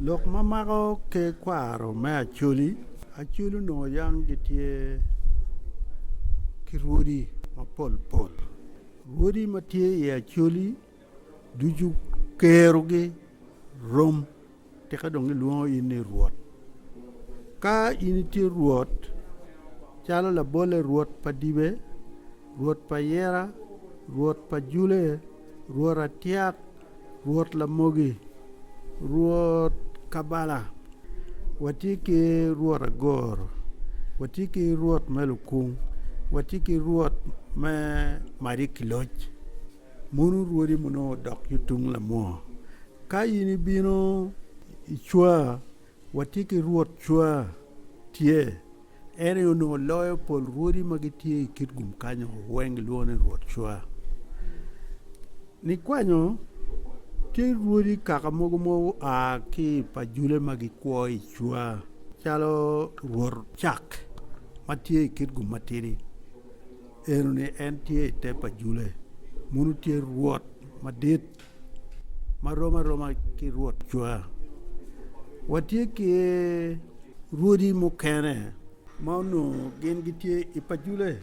Lok ma mako ki kwaro me Acholi, Acholi onongo yam gitye ki rwodi mapol pol. Rwodi ma tye i Acholi ducu kerogi rom tika dong gilwongo in ni Rwot. Ka in itye Rwot calo labolle Rwot pa Dibe, Rwot pa Yera, Rwot pa Jule, Rwot Atyek. Rwot Lamogi, Rwot Kabala, watye ki Rwot Agoro, watye ki Rwot me Lukung, watye ki Rwot me Mac ki Loc, mono rwodi ma nongo odok ki tung lamwoo ka in ibino icwa? Watye ki rwot cwa, tye, en aye onongo loyo pol rwodi ma gitye i kit gum kanyo weng gilwongo ni rwot cwa. Nikwanyo tye rwodi kaka mogo ma oa ki i pa jule ma gikwo i cwa calo rwot cak ma tye i kit gum matidi eno ni en tye i te pa jule munu tye rwot madit. ma rom aroma ki rwot cwa. Watye ki rwodi mukene ma onongo gin gitye i pacule,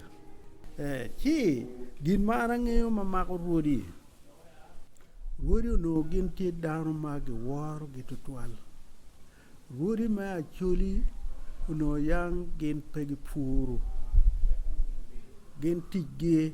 ci gin ma an angeyo ma mako rwodi, rwodi onongo gin tye dano ma giworogi tutwal. Rwodi me Acholi onongo yang gin pe gipuru, gin ticgi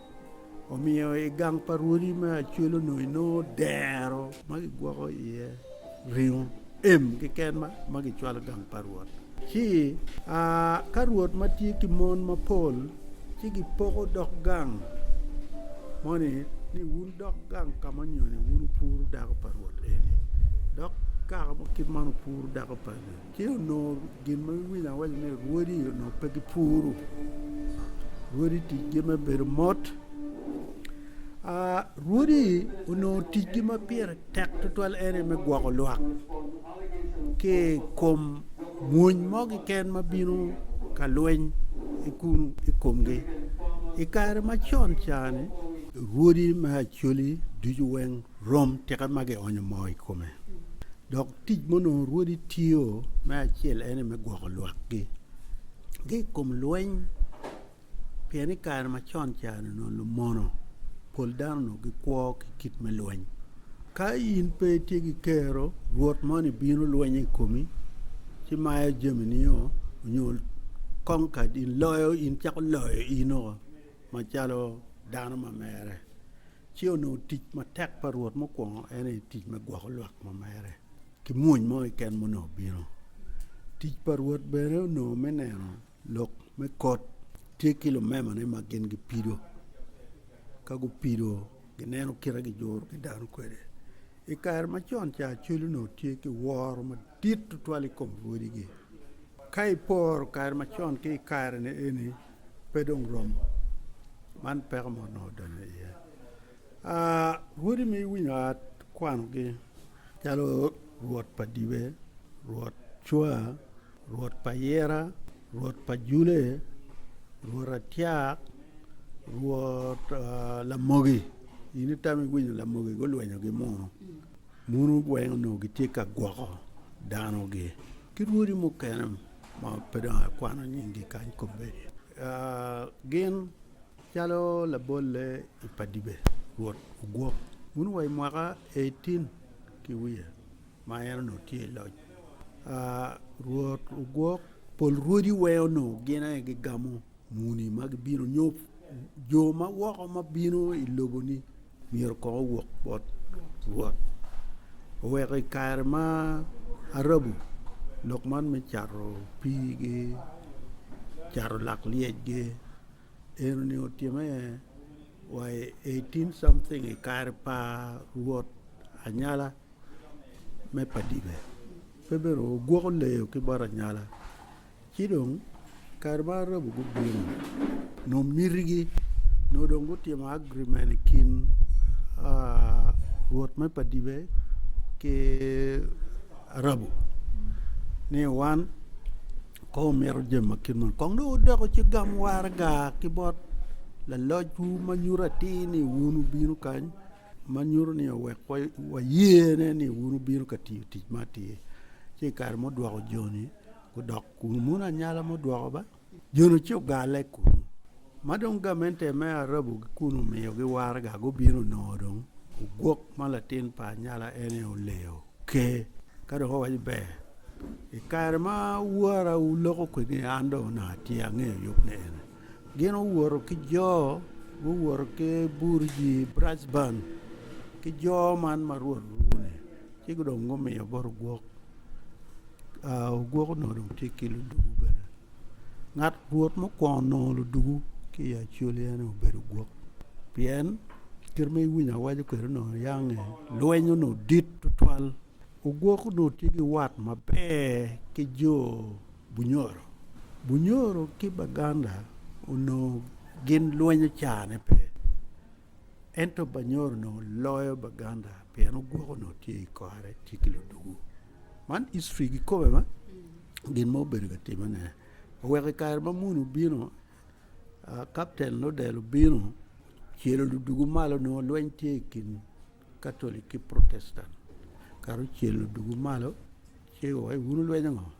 Omiyo i gang pa rwodi me acwelo-nu inongo dero ma kigwoko iye ringo em keken ma kicwalo i gang pa Rwot. Ci ka rwot ma tye ki mon mapol ci gipoko dog gang moni ni wun dog gang ka ma nyoni wun wupuro dako pa rwot eni, dok kare ma kit man wupuro dako pa rwot eni. Ci onongo gin ma iwinyo awaco ni rwodi onongo pe gipuru, rwodi ticgi me bedo mot. Rwodi onongo ticgi ma pire tek tutwal en aye me gwoko lwak ki i kom mwony mo keken ma bino ka lweny kunu i komgi. I kare macon ca-ni rwodi me Acholi ducu weng Rom tika ma gionyo moo i kome. Dok tic ma onongo Rwodi tiyo me acel ene me gwoko lwakgi ki i kom lweny, pien i kare macon ca-ni onongo lumono pol dano onongo gikwo ki kit me lweny. Ka in pe itye ki kero, rwot moni bino lwenyo i komi ci mayo jamini-o, onyo conquered in, loyo in, cako loyo in-o macalo dano ma mere. Ce onongo tic matek pa Rwot mukwongo en aye tic me gwoko lwak ma mere ki mwony mo keken ma onongo bino. Tic pa Rwot bene onongo me neno lok me kot tye ki lumemane ma gin gipido. Ka gupido, gineno kite gijuro ki dano kwede. I kare macon ca, cwel onongo tye ki woro madit tutwal i kom rwodigi. Ka iporo kare macon ki i kare-ni eni, pe dong rom. Man peko mo onongo odonyo iye. Aa, rwodi ma iwinyo aa kwanogi calo rwot pa dibe, rwot cwa, rwot pa yira, rwot pa jule, rwot atyak, rwot lamogi. In itamo iwinyo lamogi gulwenyogi mo, mono weng onongo gitye ka gwoko danogi ki rwodi mukene. ma pe dong akwano nyinggi kany kobbe, gin calo labolle i Padibe, Rwot ogwok wun wa i mwaka eiten ki wiye ma en onongo tye i loc. Rwot ogwok, pol rwodi weo onongo gin aye gigamo. Muni ma gibino nyo jo ma woko ma bino i loboni myero kong owok bot Rwot. Oweko i kare ma arabu lok man me cato piigi, cato lak lyecgi, en ni otime wa i eighteen something i kare pa Rwot Anyala me Padibe. Pe bene ogwoko leyo ki bot anyala. Ci dong, kare ma Arabu gubino, nongo mitigi, nongo dong gutimo agreement i kin rwot me padibe ki Arabu ni wan kong wumito jami ma kit moni. Kong dong wudok wuci gam waraga ki bot lalocwu ma nyuto atir ni wun wubino kany. ma nyuto ni owek wayene ni wun wubino ka tiyo tic ma atir ci i kare mudwoko joni gudok kunu mono anyala mudwoko ba joni ci ogale kunu ma dong gamente me arabu kunu omiyogi waraga gubino onongo dong ogwok ma latin pa anyala en aye oleyo ker ka dong owaco ni ber i kare ma wara oloko kwedini an dong onongo atye angeyo yub ni ene Gin owoto ki jo guwoto ki burji Bracban ki jo man ma Rwot olwongo-ni, ci dong gumiyo bot ogwok. Aa, ogwok onongo dong tye ki luduku bene. Ngat Rwot mukwongo nongo luduku ki i Acoli en aye obedo ogwok, pien kite ma iwinyo awaco kwede onongo yange, lweny onongo dit tutwal. Ogwok onongo tye ki wat maber ki jo. Bunyoro. Bunyoro ki Baganda onongo gin lwenyo carane pe, ento Banyoro onongo loyo Baganda pien ogwoko onongo tye i kore, tye ki ludugu. Man history gikobbe ma gin ma obedo ka timmene. Oweko i kare ma munu obino, Kapten Lodel obino ocelo ludugu malo onongo lweny tye i kin Katolic ki Protestan. Kara ocel ludugu malo ci wa wun wulwenyo ngo?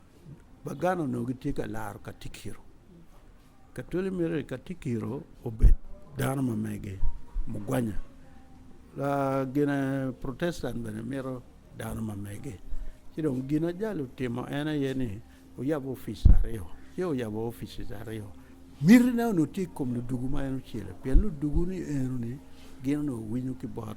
Baganda onongo gitye ka laro katikiro. Katwali myero ni katikiro obed dano ma mege, mugwanya. Gine protestant bene mito dano ma mege. Ci dong gin ajalo otimo en aye ni oyabo opic aryo. Ci oyabo opice aryo, mitine onongo tye i kom ludugu ma en ocele pien ludugu-ni eno-ni gin onongo winyo ki bot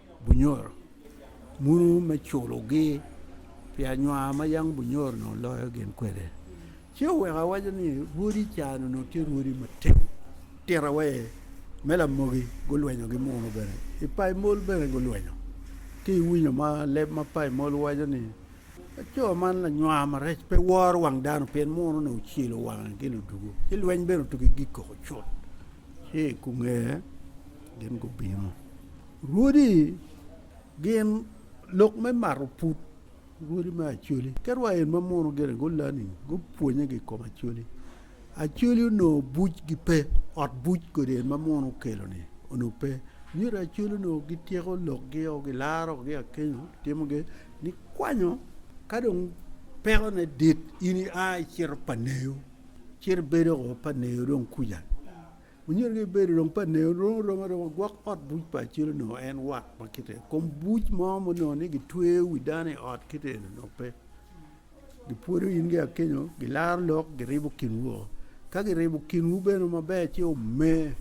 Bunyoro munu me culogi pi anywar ma yam bunyoro onongo loyo gin kwede. Ci oweko awaca ni rwodi ca onongo tye rwodi matek. Tira wa aye, me lamogi gulwenyogi muno bene, i paimol bene gulwenyo. Ci iwinyo ma leb ma paimol waco ni, Laco man lanywar marec pe woro wang dano pien muno onongo ocelo wange gin odugo, ci lweny bene otugi gik koko cut. Ci i kungee gin gubino. Rwodi gin lok me mato pud rwodi me Acholi kit wa en ma muno gire gulani gupwonye ki i kom Acholi. Acholi onongo bucgi pe ot buc kodi en ma muno okeloni onongo pe myero Acholi onongo gityeko lokgio gilaro gi akenyo gitimogi gikwanyo ka dong pekone dit in ia icito pa neyo icito ibedo pa neyo dong kuca. Onyuto ni bedo dong pa Neo dong romo aroma gwok ot buc pa Acil onongo en wat ma kite eni. Kom buc mo ma onongo ni gitweyo wi dano i ot kite eni onongo pe. Gipwodo in ki Akenyo, gilaro lok, giribo kinwu woko. Ka giribo kinwu bene maber ci ome,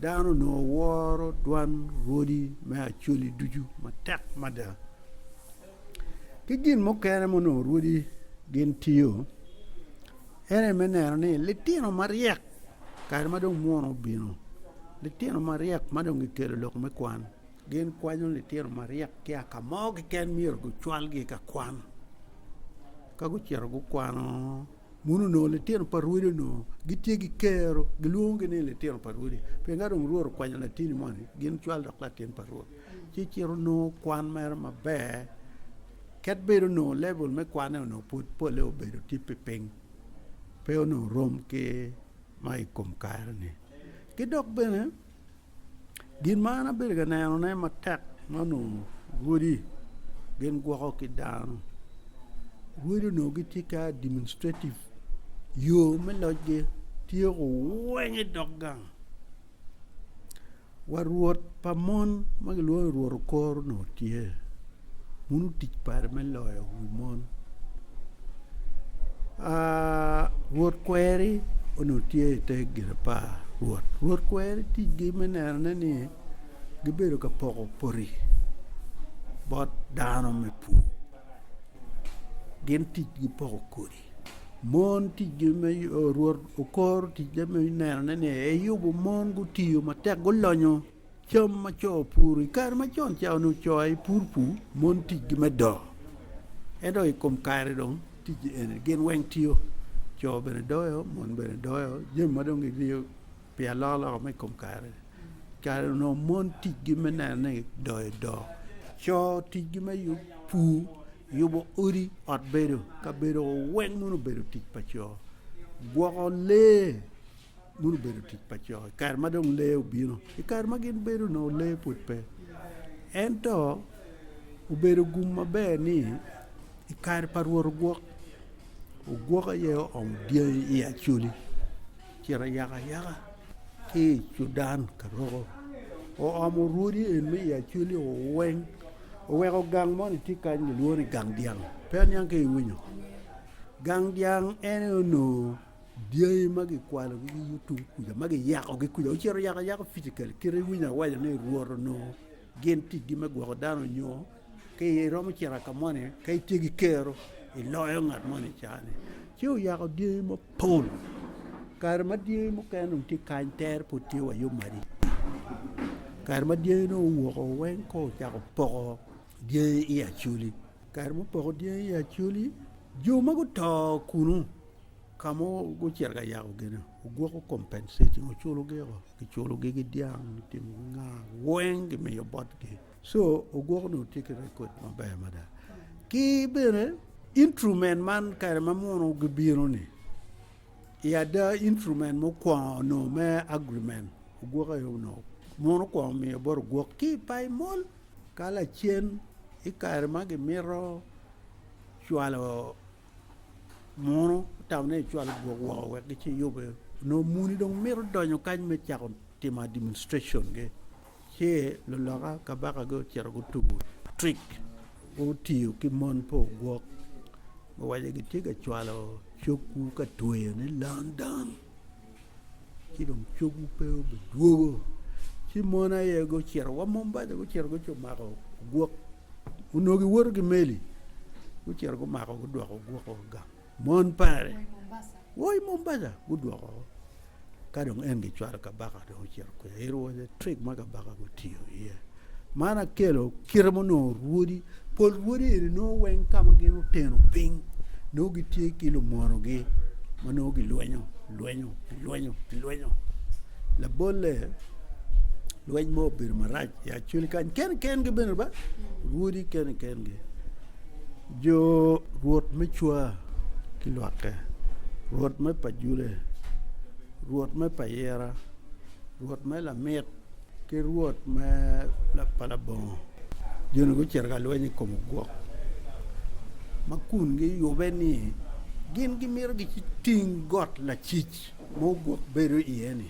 dano onongo woro dwan rwodi me Acholi ducu matek mada. Ki gin mukene ma onongo rwodi gin tiyo, en aye me neno ni litino maryek Kare ma dong munu obino, litino maryek ma dong gikelo lok me kwan gin kwanyo litino maryek ki a ka mo keken myero gucwalgi ka kwan. Ka gucito gukwano munu onongo litino pa rwodi onongo gitye ki kero gilwongogi ni litino pa rwodi pien ka dong Rwot okwanyo latini moni gin cwal dok latin pa Rwot ci cito nongo kwan mere maber ket bedo onongo lebel me kwanne onongo pud polle obedo tye piny. pe onongo rom ki ma i kom kare-ni. Ki dok bene gin ma an abedo ka nenone matek ma onongo odi gin gwoko ki dano, odi onongo gitye ki administrative yo me locgi tye owiny i dog gang. Wa rwot pa mon ma gilwongo ni Rwot Okor onongo tye. Wun otic pare me loyo wi mon. Ah, Rwot kweri onongo tye i te Girapar Rwot. Rwot kweri ticgi me nenone ni gibedo ka poko poti bot dano me pur. Gin ticgi poko kodi. Mon ticgi me Rwot okoro ticne me nenone ni eyubo mon gutiyo matek gulonyo cam ma co opuro. I kare macon ca onongo co aye pur pur, mon ticgi me do. Ento i kom kare dong tic eni gin weng tiyo, co bene doyo, mon bene doyo, jami ma dong giriyo Pi alokaloka ma i kom kare, kare onongo mon ticgi me neno ni doyo doo, co ticgi me pur, yubo odi, ot bedo, kabedo weng mono obedo tic pa co, gwoko lee mono obedo tic pa co i kare ma dong lee obino. I kare ma gin bedo onongo lee pud pe ento obedo gum maber ni i kare pa rwot ogwok, ogwok aye oomo dyangi i i acholi. Ocito ayakayaka ki i cudan ka roko, oomo rwodi en me Yaculi o weng, oweko gang moni tye kany kilwongo ni gang dyang, pe aniang ka iwinyo. Gang dyang en aye onongo dyangi ma gikwalogi ki YouTube kuca ma giyakogi kuca, ocito ayakayaka physically kit ma iwinyo awaca ni Rwot onongo. Gin ticgi me gwoko dano nyo ka iromo cito ka moni ka itye ki kero iloyo ngat moni i caa-ni. Ci oyako dyangi mapol. Kare ma dyangi mukene dong tye kany tere pud tye wa yom adada. Kare ma dyangi dong owoko weng kong ocako poko dyangi i acoli. Kare mupoko dyangi i acoli jo ma guto kunu ka ma gucito ka yako gin-ni ogwoko compensation oculogi woko. Kiculogi ki dyang me timo nga weng kimiyo botgi. So ogwoko nongo tye ki record maber mada. Ki bene intrument man kare ma muno gibino ni i ada intrument mukwongo nongo me agreement ogwoke yo nongo muno kwongo miyo bot ogwok ki pai mol ka lacen i kare ma gimito cwalo Mono otamone ni cwalo gwok woko wek gici yube. Onongo muni dong mito donyo kany me cako timo administrationgi, ci luloka kabakagi ocito gutugo trick, gutiyo ki mon pa ogwok, guwaco ni gitye ka cwalo cogwu ka tweyone London, ci dong cogwu pe obidwogo. Ci mon aye gucito wa Mombasa gucito gucumako ogwok. Onongo giwoto ki meli, gucito gumako gudwoko gwoko gang. Mon pare wa i Mombasa gudwoko woko. Ka dong en gicwalo kabaka dong ocito kwiya. It was a trick ma kabaka gutiyo iye. Man akelo kite ma onongo rwodi, pol rwodi eni nongo weng ka ma gin oteno piny, nongo gitye ki lumonogi ma nongo gilwenyo, lwenyo, lwenyo, lwenyo. Labolle Lweny mo obedo marac i Acoli kany kene kengi bene ba rwodi kene kengi jo rwot me cwa ki lwakke rwot me pajule rwot me payira rwot me lamik ki rwot me pa labongo joni gucito ka lweny i kom ogwok ma kun giyube ni gin gimito giting got lacic ma ogwok bedo iye-ni.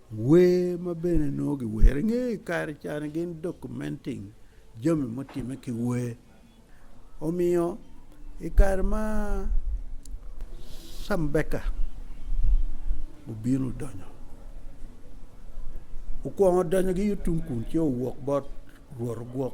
Wer ma bene nongo giwero i nge kare ca-ni gin documenting jami mutimme ki wer. Omiyo, i kare ma Cambeka obino donyo, okwongo donyo gi Yutumkun ci owok bot Rwot ogwok.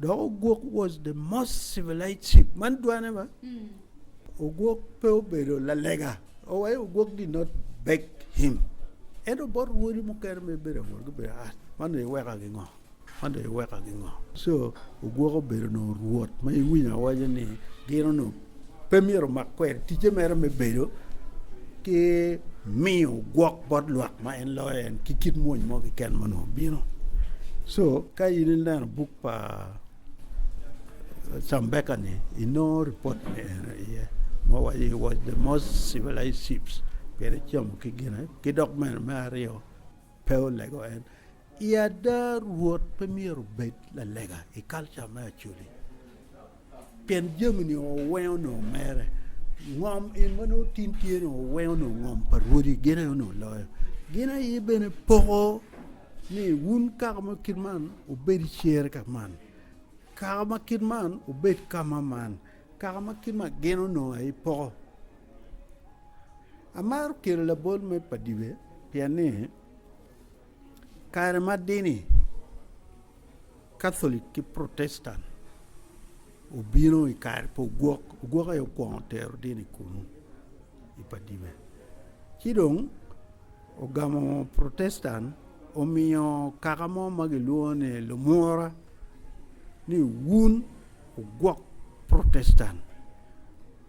Dok ogwok was the most civilized ship. Man dwane ba? Mm. Ogwok pe obedo lalega. Oh, why ogwok did not beg him? Ento bot wodi mukene me bedo awol gibedo ah, man dong iweka gingo? Man dong iweka gingo? So ogwok obedo no ruot ma iwinyo awaja ni gino no pe myero omak kwede ticce mere me bedo ki miyo gwok bot lwak ma en loyo en ki kit mwony mo keken ma onongo bino. So ka in ineno buk pa Cambeka-ni inongo ripot me eno iye ma waco he was the most civilized ships pien ecomo ki gine ki dok bene me aryo Pe olego en. I ada, Rwot pe myero obed lalega i kalca me Acholi, pien jami-ni owengo nongo mere. Ngom in ma nongo tin tye-ni owengo nongo ngom pa rwodi, gin aye onongo loyo. Gin aye bene poko ni wun kaka ma kit man wubed i cer ka man, kaka ma kit man wubed ka ma man, kaka ma kit man, gin onongo aye poko. Amaro kelo labol me padibe pien ni kare ma dini Catholic ki Protestant obino i kare pa ogwok, ogwok aye okwongo tero dini kunu i padibe. Ci dong ogamo Protestant omiyo kaka mo ma gilwongo ni lumura ni wun ogwok Protestant.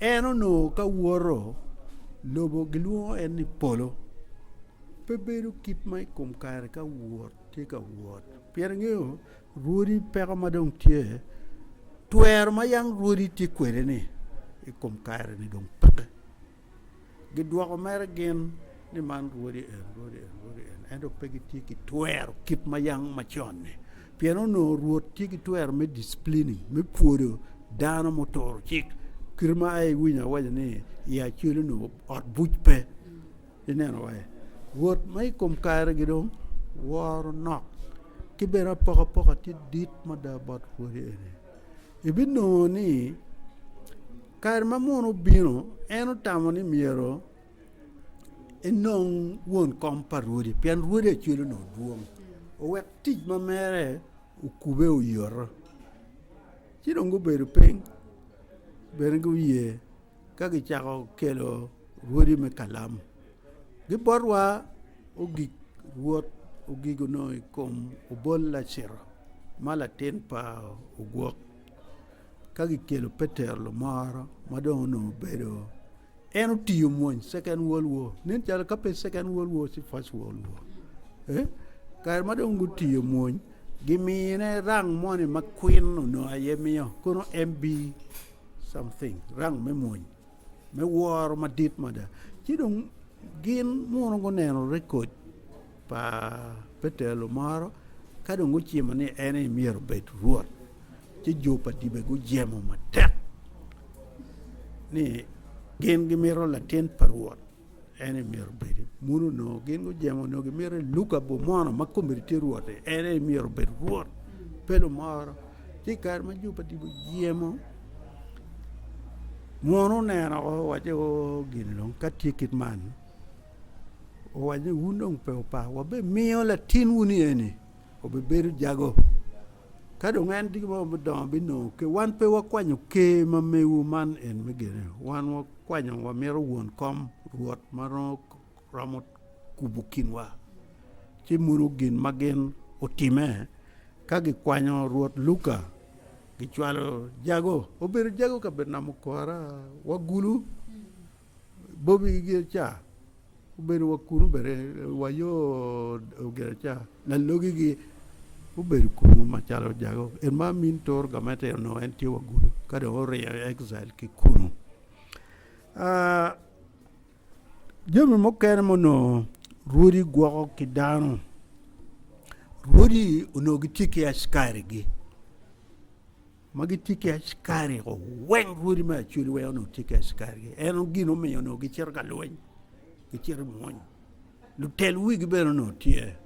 En onongo ka woto, lobo gilwongo en ni polo. Pe bedo kit ma i kom kare ka wot tye ka wot, pien engeyo rwodi peko ma dong tye, twero ma yam rwodi tye kwede-ni i kom kare-ni dong peke. Gidwoko mere gin ni, Man rwodi en, rwodi en, rwodi en, ento pe gitye ki twero kit ma yam macon-ni. Pien onongo Rwot tye ki twero me disciplini, me pwodo dano muturo cik. Kite ma ai iwinyo awaca ni i Acoli onongo ot buc pe. Ineno wa-e? Rwot ma i kom kare-gi dong woro nok ki bene apokapoka tye dit mada bot rwodi eni. ibinongo ni kare ma muno obino en otamo ni myero enong won kom pa Rwode pien Rwode acwele onongo dwong owek tic ma mere okube oyoto ci dong gubedo piny bene guye. Ka gicako kelo rwodi me kalam gibotwa ogik rwod ogik onongo i kom obol Lacito ma latin pa ogwok ka kikelo Petero Lumoro ma dong onongo obedo en otiyo mony second world war nen calo ka pe second world war ci first world war kare ma dong gutiyo mony gimine rang moni ma kwin onongo aye miyo kono MB Rang me mony me woro madit mada. Ci dong gin muno guneno rekod pa Petero moro ka dong gucimo ni en aye myero obed Rwot. Ci jo pa dibe gujemo matek ni gin gimito latin pa Rwot. En aye myero obed. Mon onongo gin gujemo onongo gimito ni Luka obed mono ma komedi tye Rwot-ti. En aye myero obed Rwot, pe lumoro. Ci i kare ma Ju pa tipo jemo, mon oneno woko owaco ni oo gin dong ka tye kit man, owaco ni wun dong pe wupa, wabimiyo latinwu-ni eni obibedo jago. Ka dong en tye ki mo me dongo binongo ker. Wan pe wakwanyo ker ma mewu man en me gene. Wan wakwanyo wamito won kom, Rwot ma romo kubo kinwa. Ci mono gin ma gin otime ka gikwanyo Rwot Luka, gicwalo jago. Obedo jago ka Betnam okora, wagulu. Bobi ki Giraca gubedo wa kunu bene wa yo Giraca lalogi gi gubedo kunu macalo ojago en ma amin toro gamete onongo en tye wa gudo ka dong oringo i exile ki kunu. Ah, jami mukene ma onongo rwodi gwoko ki dano, rwodi onongo gitye ki askari gi. ma gitye ki askari ko weng rwodi me acoli weng onongo tye ki askari en gin omiyo onongo gicito ka lweny gicito mwony lutel wigi bene onongo tye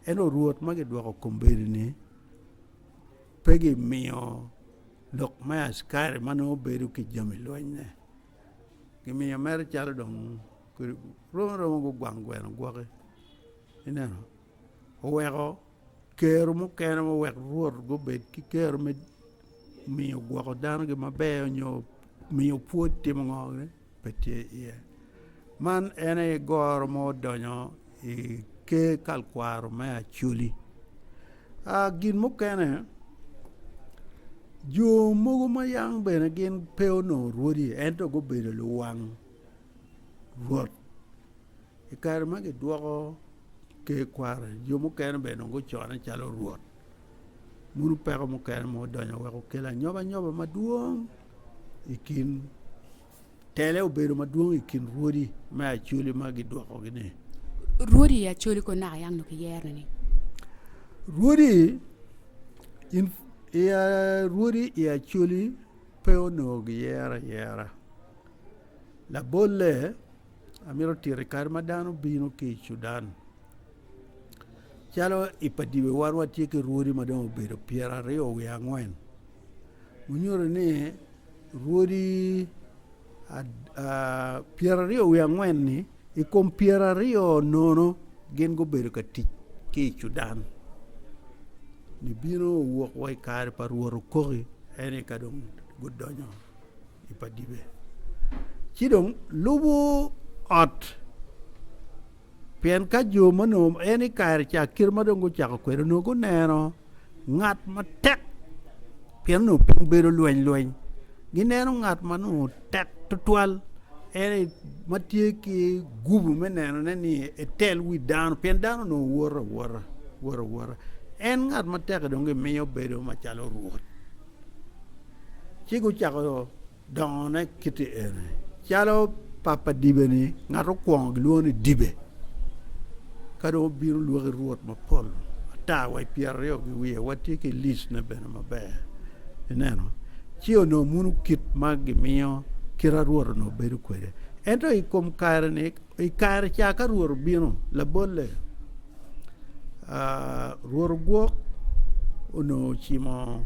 ento rwot ma gidwoko kombedini pe gimiyo lok me askari ma nongo bedo ki jami lwenyne gimiyo mere calo dong romo romo gugwang gweno gwoki ineno oweko Kero mukene ma wek Rwot gubed ki kero me miyo gwoko dano gin maber nyo miyo pwod timo ngo ni pe tye iye. Man en aye goro ma odonyo i ker kalkwaro me Acoli. Ah gin mukene jo mogo ma yang bene gin pe onongo rwodi ento gubedo luwang Rwot. I kare ma gidwoko ker kwaro, jo mukene bene onongo gucone calo rwot. Munu peko mukene ma odonyo wek okel anyobanyoba madwong i kin, tele obedo madwong i kin rwodi me Acholi ma gidwokogi-ni. Rwodi i Acholi kong naka yang nongo kiyeroni? Rwodi in, i, rwodi i Acholi pe onongo giyero ayera. Labolle, amito tito i kare ma dano bino ki i Cudan calo i pa dyewa wan watye ki rwodi ma dong obedo pyeraryo wiye angwen wunyuto ni rwodi pyeraryo wiye angwen-ni i kom pyeraryo nono gin gubedo ka tic ki i Cudan nibino owok wa i kare pa rwot okoki ene ka dong gudonyo i pa dibe, ci dong lubo ot, pien ka jo ma onongo en i kare ca kite ma dong gucako kwede onongo guneno ngat matek, pien onongo piny bedo lweny lweny, gineno ngat ma onongo tek tutwal en aye ma tye ki gubu me nenone ni etel wi dano, pien dano onongo woto awota, woto awota, en ngat matek-ki dong gimiyo bedo macalo rwot. Ci gucako dongone kite eni, calo papa dibe-ni, ngat okwongo gilwongo ni dibe, ka dong obino lwaki rwot mapol ata wa i pyeraryo ki wiye, watye ki licne bene maber, ineno. Ci onongo munu kit ma gimiyo kite a Rwot onongo bedo kwede. Ento i kom kare-ni, I kare ca ka Rwot obino, labolle, Rwot ogwok onongo ocimo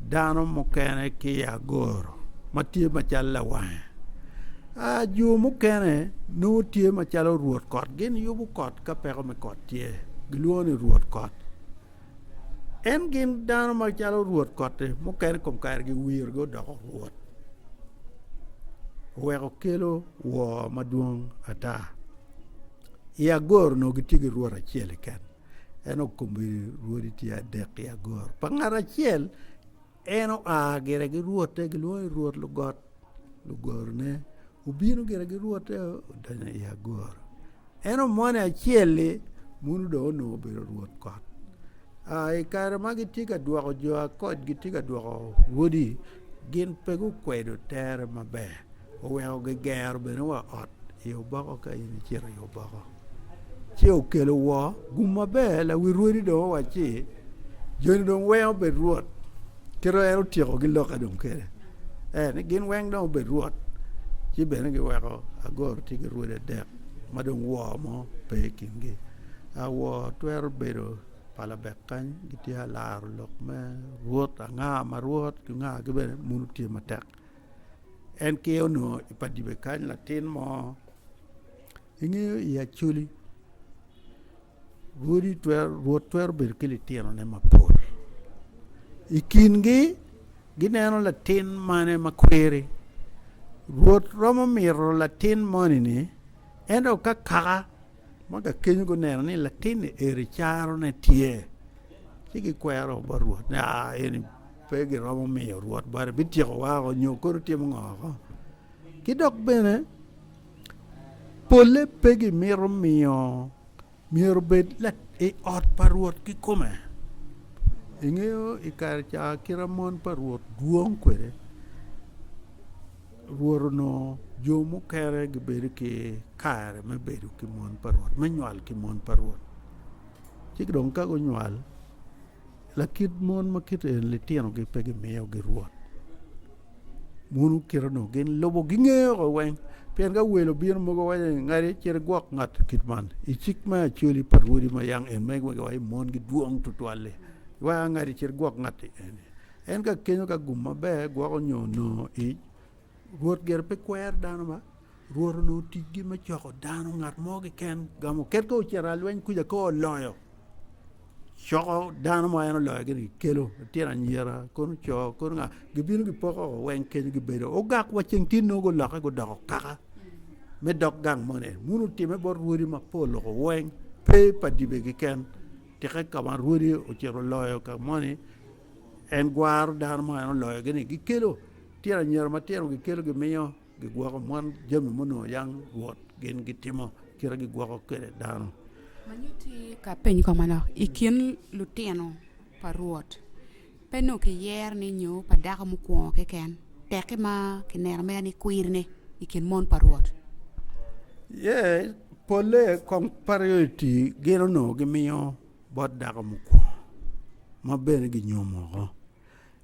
dano mukene ki i agoro ma tye macalo lawange. Jo mukene nongo tye macalo rwod kot, gin yubo kot ka peko me kot tye, gilwongo ni rwod kot. En gin dano macalo rwot kotti mukene i kom kare giwirogi odoko rwot oweko kelo wor madwong ata i agoro onongo gitye ki rwot acel keken en okomio rwodi tye adek i agoro pa ngat acel En oa gire gi rwotte, gilwongo ni rwot lugot, lugorone. Obino gire gi rwotte, odonyo i agoro. En omone acel-li, muno dong onongo obedo rwot kot. Aa, i kare ma gitye ka dwoko jo akoc, gitye ka dwoko wodi, gin pe gukwedo tere maber. oweko gigero bene wa ot i oboko ka in icito i oboko ci okelo wo gum maber lawi rwodi dong owaci joni dong weng obed rwot kit ma en otyeko ki lokke dong kene ee ni gin weng dong obed rwot ci bene giweko Agoro tye ki rwodi adek ma dong wo mo pe i kingi wo twero bedo pa labek kany gitye ka laro lok me rwot anga ma rwot ki anga ki bene munu tye matek. En ki onongo i padibe kany latin mo, ingeyo i Acholi rwodi twero rwot twero bedo ki litinone mapol i kingi gineno latin mane ma kweri rwot romo mito latin moni-ni ento ka kaka Ma kakeny guneno ni latinni eri carone tye, ci gikwero bot Rwot ni, Aa, eni pe giromo miyo Rwot bati, bityekowa woko nyo kadi otimo ngo woko. Ki dok bene, polle pe gimito miyo myero obed i ot pa Rwot kikome. Ingeyo i kare ca kite ma mon pa Rwot dwong kwede? Rwot onongo jo mukene gibedo ki kare me bedo ki mon pa Rwot, me nywal ki mon pa Rwot. Ci dong ka gunywal, lakit mon ma kit eni litinogi pe gimiyogi Rwot. Mono kite onongo gin lubo gingeyo ko weng. Pien ka wel obino mogo waco ni ngadi acel igwok ngat kit man i cik me acoli pa rwodi ma yang en ma iwaco ni mon gidwong tutwal-li, wek angadi acel igwok ngat-ti eni. En ka kenyo ka gum maber gwoko nyo nongo ic, Rwot gire pe kwero dano ma Rwot onongo ticgi me coko dano, ngat mo kiken gamo ket ka ocito i lweny kuca ka oloyo coko dano ma en oloyo gini kelo litino anyira kono co kono nga gibino gipoko o weng kenyo gibedo ogak wa ceng tye nongo guloke gudoko kaka me dog gang moni wun otime bot rwodi mapol loko weng pe pa dibe kiken Tika ka ma Rwodi ocito loyo ka moni en gwaro dano ma en oloyogi-ni? Gikelo tyen anyira matino, gikelo gimiyo, gigwoko mon jami munongo yang Rwot gin gitimo kite gigwoko kwede dano. Manyuti ka peny ko manok i kin lutino pa Rwot Pe onongo kiyero ni nyo pa dako mukwongo keken, tekki ma kineno mere ni kwirine i kin mon pa Rwot. Iye polle kong priority gin onongo gimiyo bot dako mukwongo, ma bene ginyomo oko.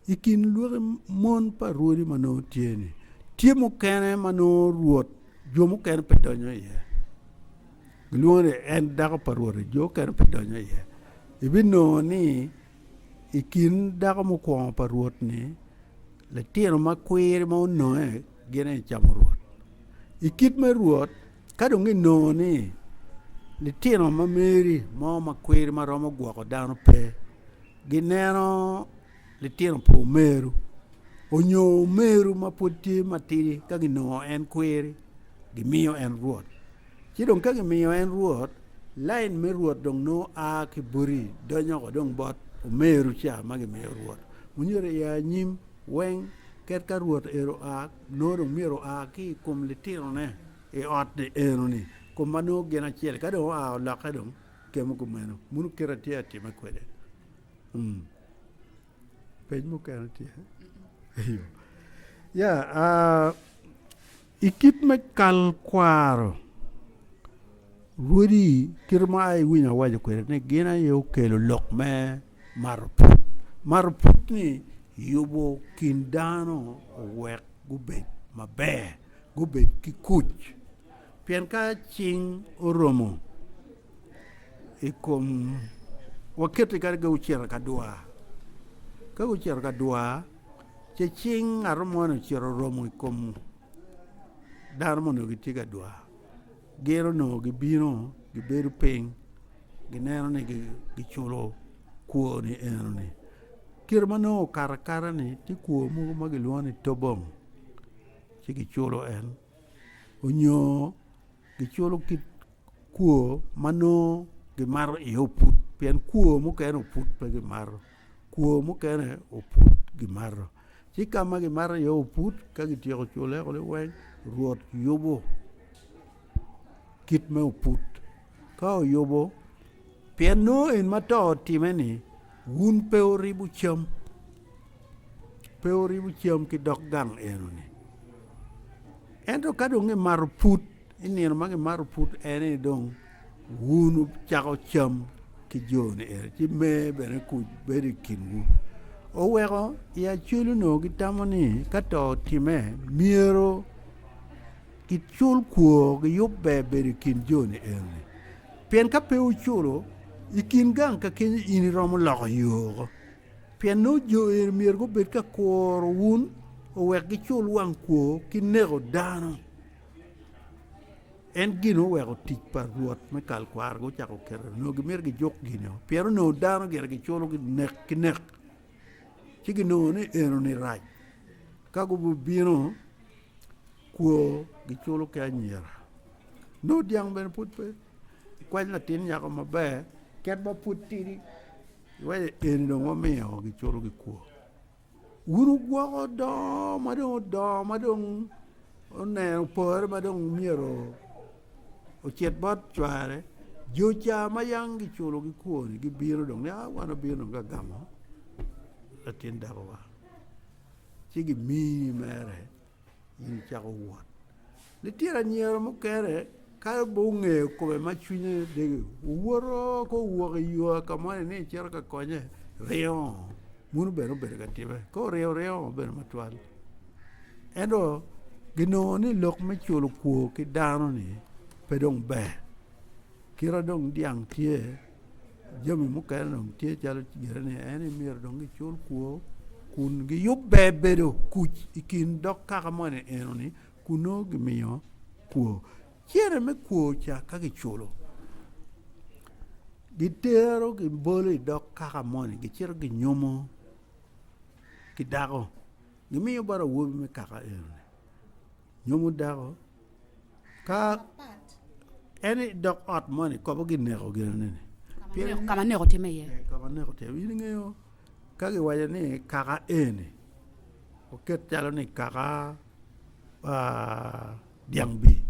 I kin lwaki mon pa Rwodi ma nongo tye-ni, tye mukene ma nongo Rwot jo mukene pe donyo iye. Gilwongo ni en dako pa Rwot-ti, jo mukene pe donyo iye. Ibinongo ni. I kin dako mukwongo pa Rwot ni, litino ma kwir ma ononge gin aye camo Rwot. I kit me Rwot, ka dong inongo ni litino ma meri mo ma kwir ma romo gwoko dano pe, gineno litino pa omeru onyo omeru ma pwod tye matidi ka ginongo en kwir gimiyo en Rwot. Ci dong ka gimiyo en Rwot, lain me Rwot dong nongo a ki boti donyo woko dong bot omeru ca ma gimiyo Rwot. Wunyuto i anyim weng ket ka Rwot ero oa, nongo dong myero oa ki i kom litinone i ot-ti eno-ni, kom ma nongo gin acel-li. Ka dong oa olokke dong kemo kumeno, muno kite atye ka timme kwede. Peny mukene tye? Eyo. Ya, a. I kit me kal kwaro, rwodi kit ma ai iwinyo awaco kwede ni gin aye okelo lok me mato pwod. Mato pwod-ni yubo kin dano owek gubed maber, gubed ki kuc pien ka cing oromo i kom waketi kadi ka gucito ka dwar ka gucito ka dwar ci cing ngat mo ni ocito oromo i kom dano ma onongo gitye ka dwar gin onongo gibino gibedo piny gineno ni giculo kwo ni eno ni kite ma nongo okato akata ni tye kwo mogo ma kilwongo ni tobong ci kiculo en onyo Giculo kit kwo ma nongo gimato iye oput pien kwo mukene oput pe gimato kwo mukene oput gimato ci ka ma gimato iye oput ka kityeko cule kunu weng Rwot yubo kit me oput ka oyubo pien nongo en ma to otimme-ni Wun pe wuribo cam, pe wuribo cam ki dog gang eno-ni. Ento ka dong gimato put, i nino ma gimato put ene ni dong wun wucako cam ki jo-ni eno, ci me bene kuc bedo i kinwu. Oweko i Acweli onongo gitamo ni ka to otimme, myero gicul kwor, giyub ber bedo i kin jo-ni eno-ni. Pien ka pe wuculo i kin gang ka kenyo in iromo loko yo woko, pien nongo jo eni myero gubed ka kuro wun owek gicul wang kwo ki neko dano. En gin oweko otic pa Rwot me kal kwaro gucako oketo nongo gimito gijuk gin-nio, pien onongo dano gire giculo nek ki nek, ci ginongo ni enoni rac. Ka gubibino kwo giculo ki anyira. nongo dyang bene pud pe kwany latin nyako maber kit ma pud tidi iwaci eni dong wamiyo gicuto gikwo wun wugwoko dongo ma dong odongo ma dong oneno pore ma dong myero ocit bot cware jo ca ma yang giculo gikwo-ni gibino dong ni aa wan wabino dong ka gamo latin dakowa ci gimiyi mere in icako wot. Litino anyira mukene kato bot ongeyo kome ma cwinye dege owoto ko owok i yo ka moni ni ecito ka konye ringo muno bene obedo ka timme ka oringo ringo obedo matwal ento ginongo ni lok me culo kwor ki dano ni pe dong ber kit ma dong dyang tye jami mukene dong tye calo gire ni en aye myero dong gicul kwor kun giyub ber bedo kuc i kin dog kaka moni enoni kun nongo gimiyo kwor cene me kwor ca ka kiculo gitero gibolo i dog kaka moni gicito ginyomo ki dako gimiyo bot awobi me kaka enoni. Nyomo dako ka en dok ot moni kobo ki neko gino ni ka ma neko timme iye ka ma neko timme in ingeyo ka gi waco ni kaka eni oket calo ni kaka dyang bim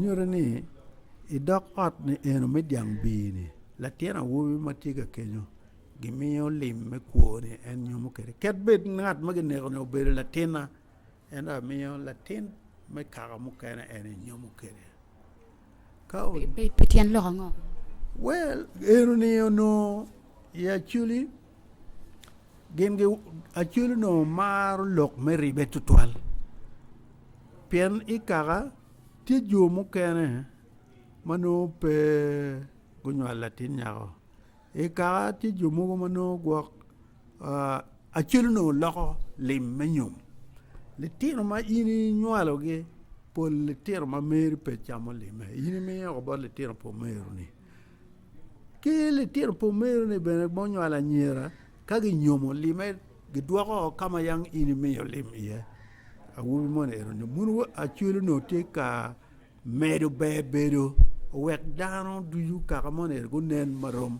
nyuto ni i dog ot ni eno me dyang bim ni latin awobi ma tye ka kenyo gi miyo lim me kwo ni en nyomo kede ket bed ngat ma kineko ni obedo latinna. En amiyo latin me kaka mukene en enyomo kede. Ka o, Pi, pi tyen lok ango? well, eno ni onongo i aculi gin gi aculi onongo maro lok me ribe tutwal. Pien i kaka tye jo mukene ma nongo pe gunywalo latin nyako. I kaka tye jo mogo ma nongo gwok Acel onongo loko lim me nyom. Litino ma in inywalogi pol litino ma meri pe camo limme in imiyo woko bot litino pa omeroni. Ki litino pa omeroni bene ma onywalo anyira ka ginyomo limme gidwoko woko ka ma yam in imiyo lim iye. Awobi moni ero ni bulu Acel onongo tye ka medo ber bedo owek dano ducu kaka moni eni gunen marom.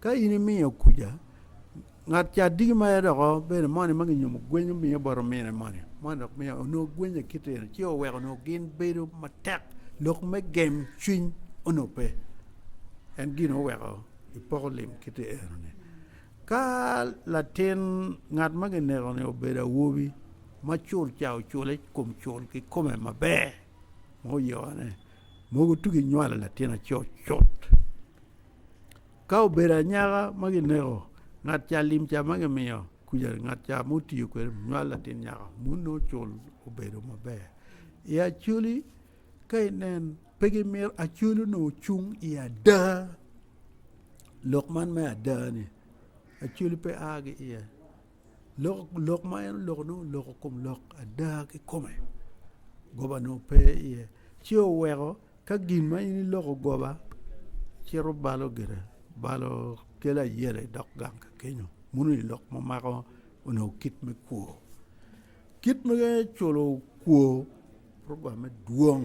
Ka in imiyo kuca, ngat ca diki mere dok obedo moni ma ginyumo gweny omiye bot omine moni, moni dok miyo onongo gweny aye kite eno ci oweko onongo gin bedo matek lok me gem cwiny onongo pe. En gin oweko ipoko lim kite eno-ni. Ka latin ngat ma kineko-ni obedo awobi ma cul ca ocule i kom cul kikome maber ma oyokone, mogo tugi nywalo latin acut cut. Ka obedo anyaka ma kineko ngat ca lim ca ma kimiyo kuca ngat ca ma otiyo kwede nywal latin nyaka munu nongo ocul obedo maber. I Acholi ka inen pe gimito Acholi onongo cung i ada lok man me ada-ni Acholi pe a ki iye. lok ma en oloko nongo oloko kom lok ada kikome goba nongo pe iye ci oweko ka gin ma in iloko goba cito balo gire balo kelo ayela idog gang ka kenyo muno i lok ma mako onongo kit me kwo kit me culo kwo roba me dwong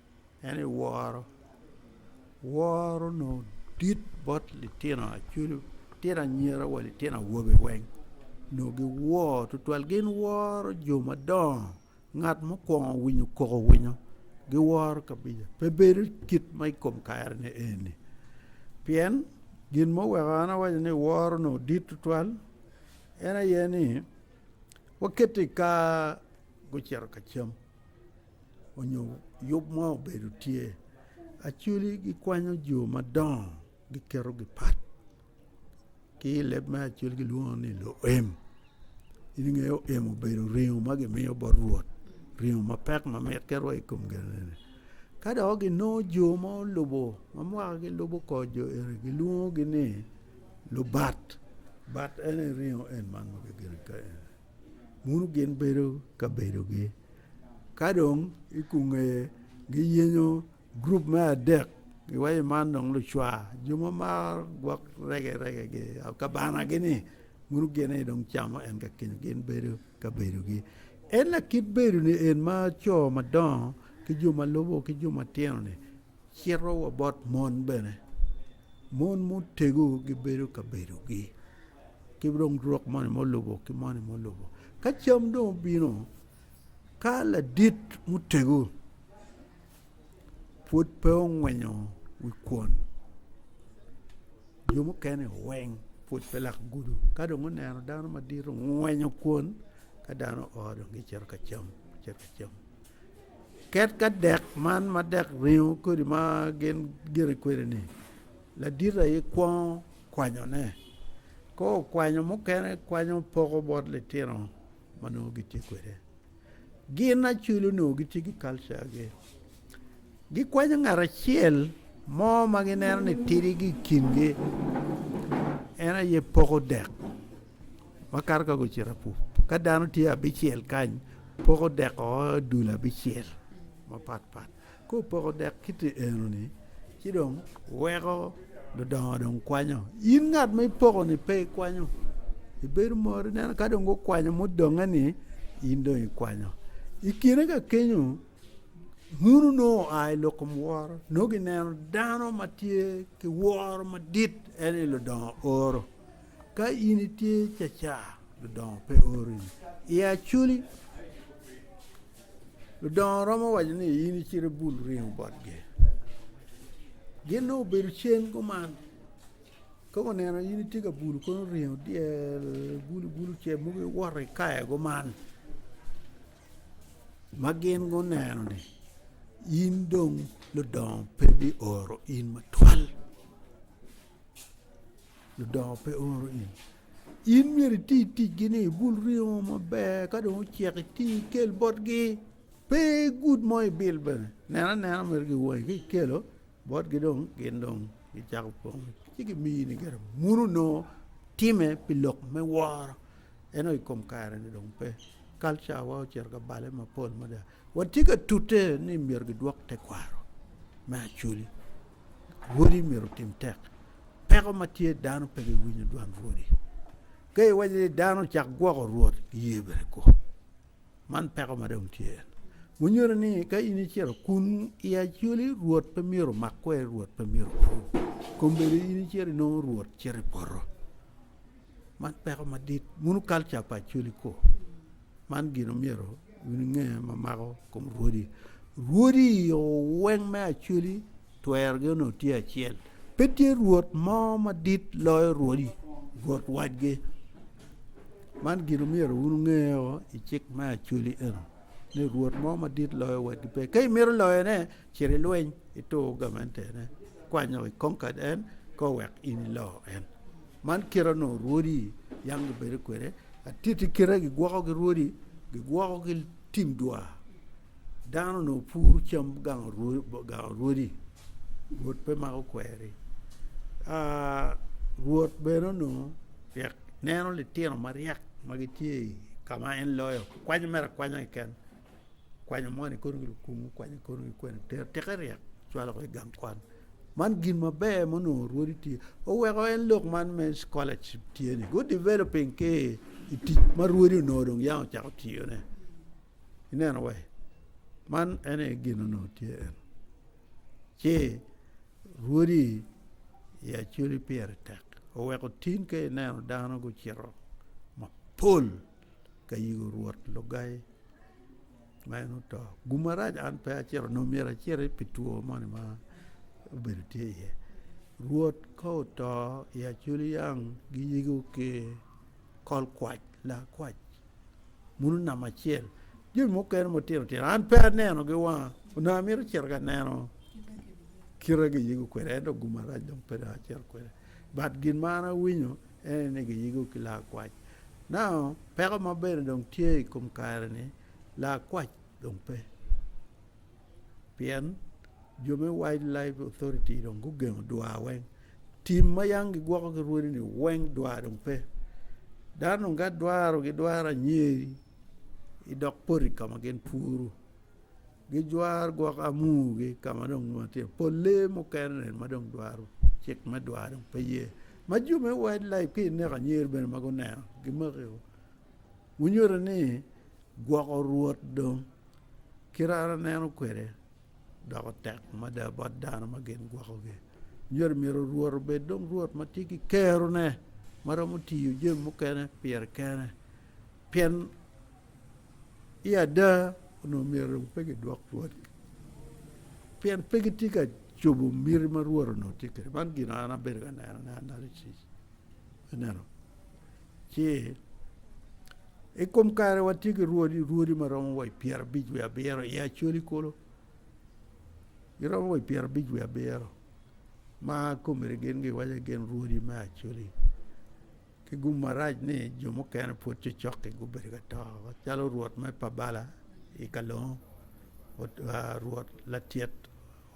En aye woro, woro onongo dit bot litino acwalo litino anyira wa litino awobe weng onongo giwor tutwal gin woro jo madongo ngat mukwongo winyo koko winyo giworo kabija pe bedo kit ma i kom kare ni eni pien gin muweko an awaco ni woro onongo dit tutwal en aye ni wakiti i kar gucito ka cam onyo yub mo obedo tye Acholi gikwanyo jo madongo giketo gi pat ki i leb me Acholi gilwongo ni luem in inge luem obedo ringo ma gimiyo bot Rwot ringo mapek ma mit ki rwai ikom ginene ka dong ginongo jo ma olubo ma mwaka gilubo kor jo eni gilwongo gi ni lubat bat ene ringo en ma nongo kigeno ka eni bino gin bedo ka bedogi ka dong i konge giyenyo gurup me adek giwaco man dong lucwa jo ma maro gwok rege rege gi kabana gi ni bino gin aye dong camo en ka kenyo gin bedo ka bedogi en lakit bedone en ma co madongo ki jo ma lubo ki jo matino ni Cito wa bot mon bene, mon mutegu gibedo ka bedogi ki dong rwok moni ma olubo ki moni ma olubo. Ka cam dong obino, ka ladit mutegu pwod pe ongwenyo wi kwon, jo mukene oweng pwod pe lak gudo. Ka dong oneno dano madit ongwenyo kwon, ka dano oo dong gicito ka cam, gicito ka cam. Ket ka dek man ma dek ringo kodi ma gin gire kwede ni, ladit aye kwongo kwanyo ne, ka okwanyo mukene kwanyo poko bot litino ma nongo gitye kwede. Gin acwil onongo gitye ki culture gi, gikwanyo ngat acel mo ma gineno ni tidi gi i kingi en aye poko dek. Wakato ka gucito apup, ka dano tye abicel kany poko dek o dul abicel mapat pat ka opoko dek kit enoni ci dong weko ludongo dong kwanyo in ngat ma ipoko ni pe ikwanyo ibedo mot ineno ka dong gukwanyo mudonge ni in dong ikwanyo i kine ka kenyo munu nongo oa i lok kom woro nongo gineno dano ma tye ki woro madit en aye ludongo oro Ka in itye caca, ludongo pe ori i acoli. Ludongo romo waco ni in icit ibul ringo botgi. Gin dong obedo cen kuman, ka guneno in itye ka bulo kono ringo dyel, ibul ibul ce mogo iwoto ikayo kuman. Ma gin guneno ni in dong ludongo pe bioro in matwal. ludongo pe oro in, in myero iti ticgi ni ibul ringo maber ka dong ocek iti ikel botgi pe gud mo ibil bene nen anena mere ki wangi ka ikelo botgi dong gin dong gicako pwonye ci gimiyi ni gire munu onongo timme pi lok me woro ento i kom kare-ni dong pe kalcawa ocito ka bale mapol mada Watye ka tute ni myero gidwok tekwaro me Acholi. Rwodi myero otim tek. Peko ma tye dano pe giwinyo dwan rwodi. Ka iwaco ni dano ocak gwoko rwot, giye bene kwo. Man peko ma dong tye en. Munyuto ni ka in icito kun i Acholi rwot pe myero omak kweri, rwot pe myero opwony. Kombeddi in icito inongo rwot cito i poto. Man peko madit mono kalca pa Acholi kor man gin omyero wun inge ma mako kom rwodi, rwodi i yo weng me Acholi twerogi onongo tye acel pe tye rwot mo madit loyo rwodi rwot watgi man gin omyero wun inge o i cik me Acholi eno ni rwot mo madit loyo watgi pe ka imito loyone Cit i lweny, itur gamente-ne, kwany lok i Concord en ko wek in ilo en. Man kite onongo rwodi yam gibedo kwede, atiti kite gigwoko ki rwodi, gigwoko ki tim dwar. Dano onongo puro cam gango rwodi, gango rwodi. Rwot pe mako kweri. Ah, Rwot bene onongo ryek neno litino maryek ma gitye i ka ma en loyo, kwanyo mere akwanya keken. kwanyo moni kono ki lukumu kwanyo kono ki kwene tero tike ryek cwalo ki gang kwan man gin maber ma onongo rwodi tye oweko en lok man me scholarship tye ni good developing ki i tic ma rwodi onongo dong yam ocako tiyo ne ineno wa man en aye gin ma onongo tye en ci rwodi i acholi pire tek oweko tin ka ineno dano gucito mapol ka yiko rwot Lugai ma en oto. Gum marac an pe acito nongo myero aciti pi two moni ma obedo tye iye. Rwot ka oto i acoli yang giyiko ki kol kwac, laa kwac muno namba acel. Jami mukene matino tino an pe aneno gi wanga onongo amito cito ka neno kite giyiko kwede ento gum marac dong pe dong acito kwede but gin ma an awinyo Ene ni giyiko ki laa kwac. Nao peko ma bene dong tye i kom kare ni laa kwac dong pe pien jo me wild life authority dong gugengo dwaa weng tim ma yang gigwoko ki rwodi ni weng dwaa dong pe dano dong ka dwaro gidwaro anyeri idok poti ka ma gin puru. Gijwar gwok amugi ka ma dong nongo tye pol lee mukene ma dong dwaro cik me dwar dong pe ye. Ma jo me Wild Life ki i Neko Anyir bene ma guneno gimakio, gunyuto ni gwoko rwot dong ki rara neno kwede doko tek mada bot dano ma gin gwokogi. Nyuto myero rwot obed dong rwot ma tye ki kerone ma romo tiyo jami mukene pire kene pien I ada, onongo myero pe gidwok pwony-ngi pien pe gitye ka cobo miti ma Rwot onongo tye kwede. Man gin ma an abedo ka nenone analysis. Ineno? Ci i kom kare watye ki rwodi, rwodi ma romo wa i pyerabic wiye abiro i Acholi kulu. Giromo wa i pyerabic wiye abiro ma komiti gin giwaco ni gin rwodi me Acholi. Ki gum marac ni jo mukene pwod cocoki gubedo ka to macalo rwot me Pabala i Kalongo, rwot Latyet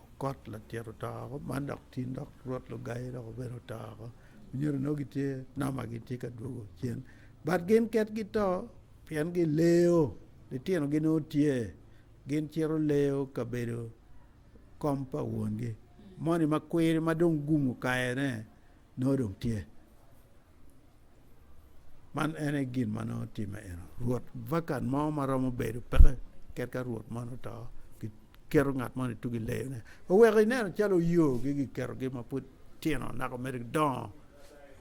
Okot Latyet oto woko man dok tin dok rwot Lugai dok obino oto woko. Onyedo nongo gitye noma gitye ka dwogo cen but gin ket gito pien gileyo litinogi nongo tye gin cito leyo kabedo kom pa wongi moni ma kwiri ma dong gum okayone nongo dong tye. Man en aye gin ma nongo timme eno. Rwot vakan mo ma romo bedo peke ket ka rwot moni oto, giketo ngat moni tugo i leyone. Oweko ineno calo oyogi giketogi ma pud tino naka omyero gidongo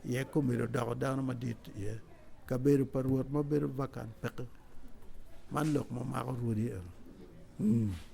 iye ka omyero odoko dano madit iye. Kabedo pa rwot ma bedo vakan peke. Man lok ma mako rwodi eno.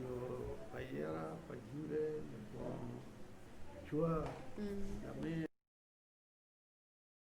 jo pa yera pa Jude lubongo cwar lamer.